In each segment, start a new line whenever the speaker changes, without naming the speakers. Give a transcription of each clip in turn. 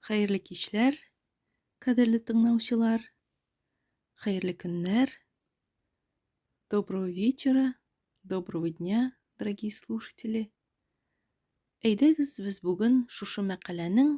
Хәерле кичләр, кадерле тыңлаучылар. Хәерле көннәр. Доброго вечера, доброго дня, дорогие слушатели. Әйдәгез, без бүген шушы мәкаләнең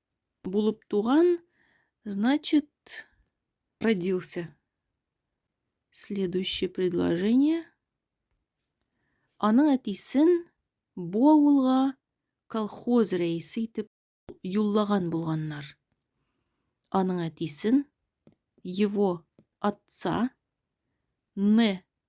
Булып туган, значит, родился. Следующее предложение. Аның әтисен бу авылга колхоз рәисе итеп юллаган булганнар. Аның әтисен его отца не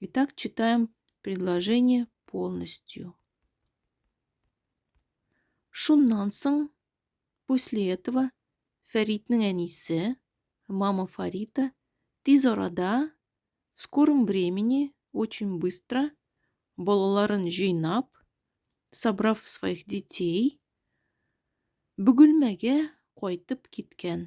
Итак, читаем предложение полностью. Шуннан соң, после этого, Фәритнең әнисе, мама Фарита, тиз арада, в скором времени, очень быстро, балаларын җыйнап, собрав своих детей, Бөгелмәгә кайтып киткән.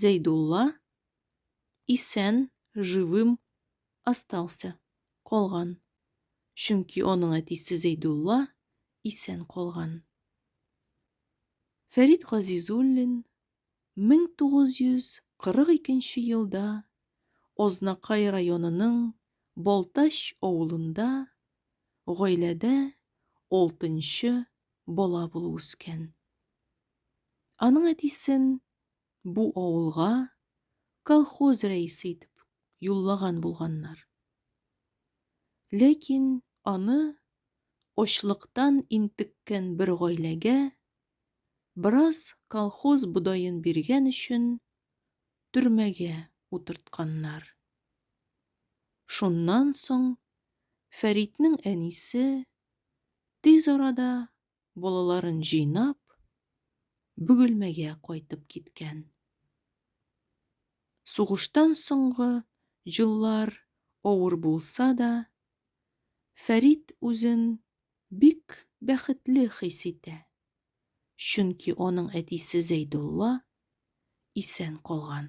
Зәйдулла исән, живым, остался, калган, чөнки аның әтисе Зәйдулла исән калган. Фәрит Газизуллин 1942 елда Азнакай районының Балтач авылында гаиләдә алтынчы бала булып үскән. Аның әтисен бу авылга колхоз рәисе итеп юллаган булганнар. Ләкин аны очлыктан интеккән бер гаиләгә бераз колхоз бодаен биргән өчен төрмәгә утыртканнар. Шуннан соң Фәритнең әнисе тиз арада Балаларын җыйнап, Бөгелмәгә кайтып киткән. Сугыштан соңгы җыллар авыр булса да, Фәрит үзен бик бәхетле хис итә, чөнки аның әтисе Зәйдулла исән калган.